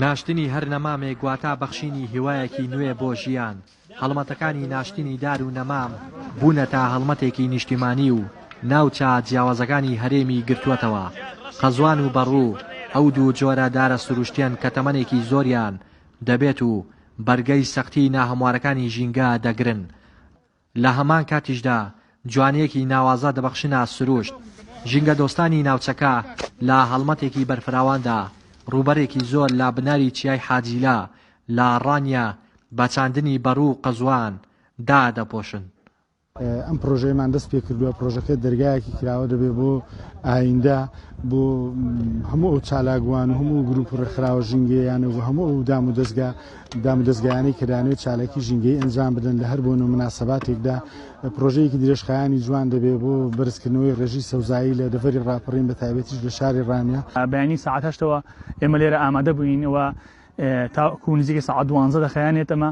ناشتنی هەر نەمامێک واتا بەخشینی هیوایەکی نوێ بۆ ژیان. هەڵمەتەکانی ناشتنی دار و نەمام بوونەتە هەڵمەتێکی نیشتیمانی و ناوچە جیاوازەکانی هەرێمی گرتووەتەوە. قەزوان و بەڕوو ئەو دوو جۆرە دارە سروشتیەن کە تەمەنێکی زۆریان دەبێت و بەرگەی سەختی ناهەموارەکانی ژینگە دەگرن. لە هەمان کاتیشدا جوانییەکی ناوازە دەبەخشنە سروشت، ژینگەدۆستانی ناوچەکە لە هەڵمەتێکی بەرفراواندا ڕووبەرێکی زۆر لە بناری چیای حاجیلە لە ڕانیە بە چاندنی بەڕوو و قەزوان دادەپۆشن. ئەم پڕۆژەیەمان دەست پێ کردووە، پڕۆژەکە دەرگایەکی کراوە دەبێت بۆ ئایندە، بۆ هەموو ئەو چالاکوان و هەموو گروپ و ڕێکخراوە ژینگەییانە و هەموو ئەو دامودەزگا دامودەزگایانەی کە دەیانەوێت چالاکی ژینگەیی ئەنجام بدەن لە هەر بۆنە و مناسەباتێکدا پرۆژەیەکی درێژخایانی جوان دەبێت بۆ بەرزکردنەوەی ڕێژەی سەوزایی لە دەڤەری ڕاپەڕین بە تایبەتیش لە شاری ڕانیە. بەیانی سەعات هەشتەوە ئێمە لێرە ئامادە بووین و تاکوو نزیکەی سەعات دوانزە دەخایەنێت ئەمە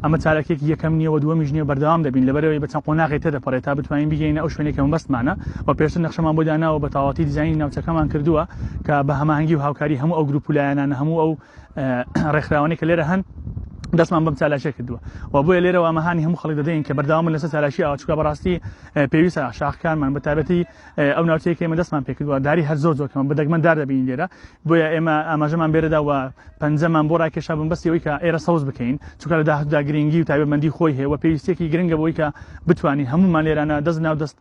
ئەمە چالاکیەکی یەکەم نییە و دووەمیش نییە بەردەوام دەبین لەبەرەوەی بە چەند قۆناغی تێدەپەڕێت تا بتوانین بگەینە ئەو شوێنێک کە مەبەستمانە و پێشتر نەخشەمان بۆ داناوە بە تەواوەتی دیزاینی ناوچەکەمان کردووە کە بە هەماهەنگی و هاوکاری هەموو ئەو گروپ و لایەنانە هەموو ئەو ڕێکخراوانی کە لێرە هەن دەستمان بەم چالاکیە کردووە و بۆیە لێرەوە ئەمەهانی هەموو خەڵک دەدەین کە بەرداوامن لەسەر چالاکی ئاچکە بەڕاستی پێویستە شاخکانمان بە تابەتی ئەو ناوچەیەکی ئمە دەستمان پێکردووە داری هەر زۆر زۆرکەمە بەدەگمەن دار دەبین لێرە بۆیە ئێمە ئاماژەمان بێرەدا و پەنجەمان بۆ ڕاکێشا بم بەسیەوەی کە ئێرە سەوز بکەین چونکە لە داهدا گرنگی و تایبەتمەندی خۆی هەیە و پێویستێکی گرنگە بۆی کە بتوانین هەمومان لێرانە دەست ناو دەست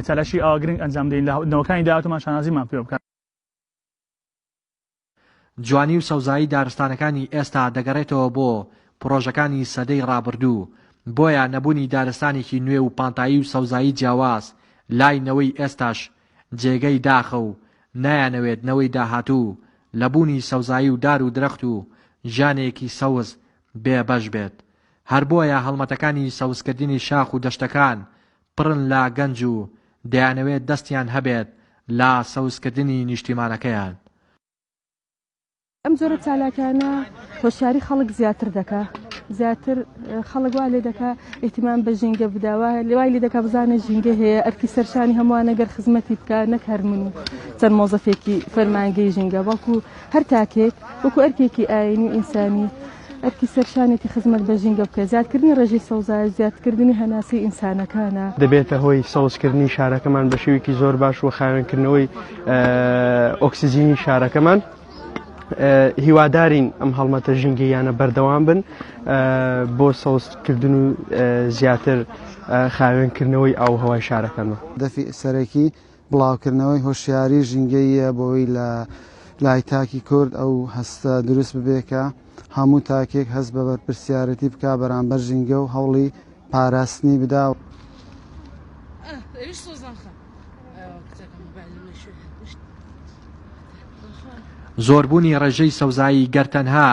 چالاشی ئاگرنگ ئەنجام دەین لە نەوەکانی داهاتمان شانازیمان پێ بکات جوانی و سەوزایی دارستانەکانی ئێستا دەگەڕێتەوە بۆ پڕۆژەکانی سەدەی ڕابردوو، بۆیە نەبوونی دارستانێکی نوێ و پانتایی و سەوزایی جیاواز لای نەوەی ئێستاش جێگەی داخە و نایانەوێت نەوەی داهاتوو لە بوونی سەوزایی و دار و درەخت و ژیانێکی سەوز بێ بەش بێت هەر بۆیە هەڵمەتەکانی سەوزکردنی شاخ و دەشتەکان پڕن لە گەنج و دەیانەوێت دەستیان هەبێت لە سەوزکردنی نیشتیمانەکەیان. ئەم جۆرە چالاکیانە هۆشیاری خەڵک زیاتر دەکا، زیاتر خەڵک وا لێ دەکا ئیهتیمام بە ژینگە بدا، وا وای لێ دەکا بزانێ ژینگە هەیە، ئەرکی سەرشانی هەمووانە گەر خزمەتی بکا، نەک هەر من و چەند مۆزەفێکی فەرمانگەی ژینگە، بەڵکوو هەر تاکێک وەکوو ئەرکێکی ئایینی و ئینسانی، ئەرکی سەرشانێتی خزمەت بە ژینگە بکەێت، زیادکردنی ڕێژەی سەوزایش زیادکردنی هەناسەی ئینسانەکانە. دەبێتە هۆی سەوزکردنی شارەکەمان بە شێوەیەکی زۆر باش و خاوێنکردنەوەی ئۆکسجینی شارەکەمان. هیوادارین ئەم هەڵمەتە ژینگەییانە بەردەوام بن بۆ سەوزکردن و زیاتر خاوێنکردنەوەی ئاوهەوای شارەکەمان. هەدەفی سەرەکی بڵاوکردنەوەی هۆشیاری ژینگەییە بۆوەی لە لای تاکی کورد ئەو هەستە دروست ببێ کە هەموو تاکێک هەست بە بەرپرسیارەتی بکا بەرامبەر ژینگە و هەوڵی پاراستنی بدا. زۆربوونی ڕێژەی سەوزایی گەر تەنها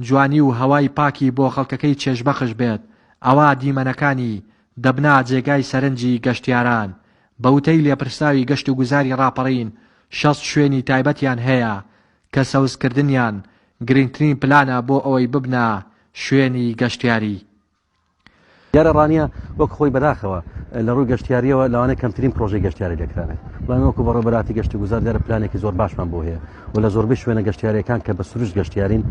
جوانی و هەوای پاکی بۆ خەڵکەکەی چێژبەخش بێت ئەوا دیمەنەکانی دەبنە جێگای سەرنجی گەشتیاران، بە وتەی لێپرسراوی گەشتوگوزاری ڕاپەڕین، شەست شوێنی تایبەتیان هەیە کە سەوزکردنیان گرنگترین پلانە بۆ ئەوەی ببنە شوێنی گەشتیاری. دیارە ڕانیە وەک خۆی بەداخەوە لە ڕووی گەشتیاریەوە لەوانەیە کەمترین پرۆژەی گەشتیاری لێکرابێت، بەڵام ئێمە وەکو بەڕێوەبەراتی گەشتوگوزار دیارە پلانێکی زۆر باشمان بۆ هەیە، و لە زۆربەی شوێنە گەشتیاریەکان کە بە سروشت گەشتیارین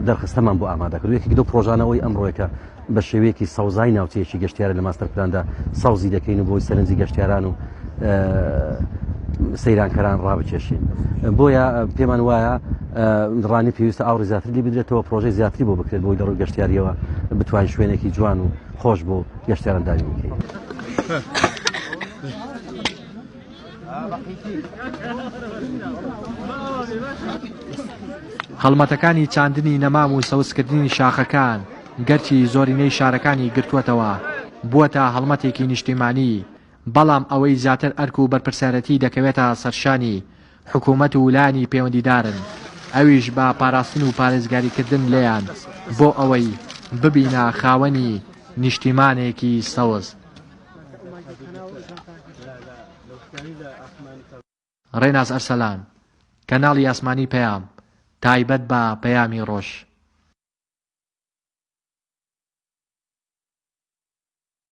دەرخستەمان بۆ ئامادە کرد یەکێک لەو پرۆژانەوەی ئەمڕۆیەکە بە شێوەیەکی سەوزای ناوچەیەکی گەشتیارە لە ماستەر پلاندا سەوزی دەکەین و بۆی سەرنجی گەشتیاران و سەیرانکەران ڕابکێشین بۆیە پێمان وایە ڕانی پێویستە ئاوڕی زیاتر لی بدرێتەوە پرۆژەی زیاتری بۆ بکرێت بۆی دەڕوو گەشتیاریەوە بتوان شوێنێکی جوان و خۆش بۆ گەشتیاران داوی بکەین. هەڵمەتەکانی چاندنی نەمام و سەوزکردنی شاخەکان گەرچی زۆرینەی شارەکانی گرتووەتەوە، بووەتە هەڵمەتێکی نیشتیمانی، بەڵام ئەوەی زیاتر ئەرک و بەرپرسیارێتی دەکەوێتە سەرشانی حکومەت و لایەنی پەیوەندیدارن، ئەویش بە پاراستن و پارێزگاریکردن لێیان بۆ ئەوەی ببینە خاوەنی نیشتیمانێکی سەوز. ڕێناس ئەرسەلان، کەناڵی ئاسمانی پەیام، تایبەت بە پەیامی ڕۆژ.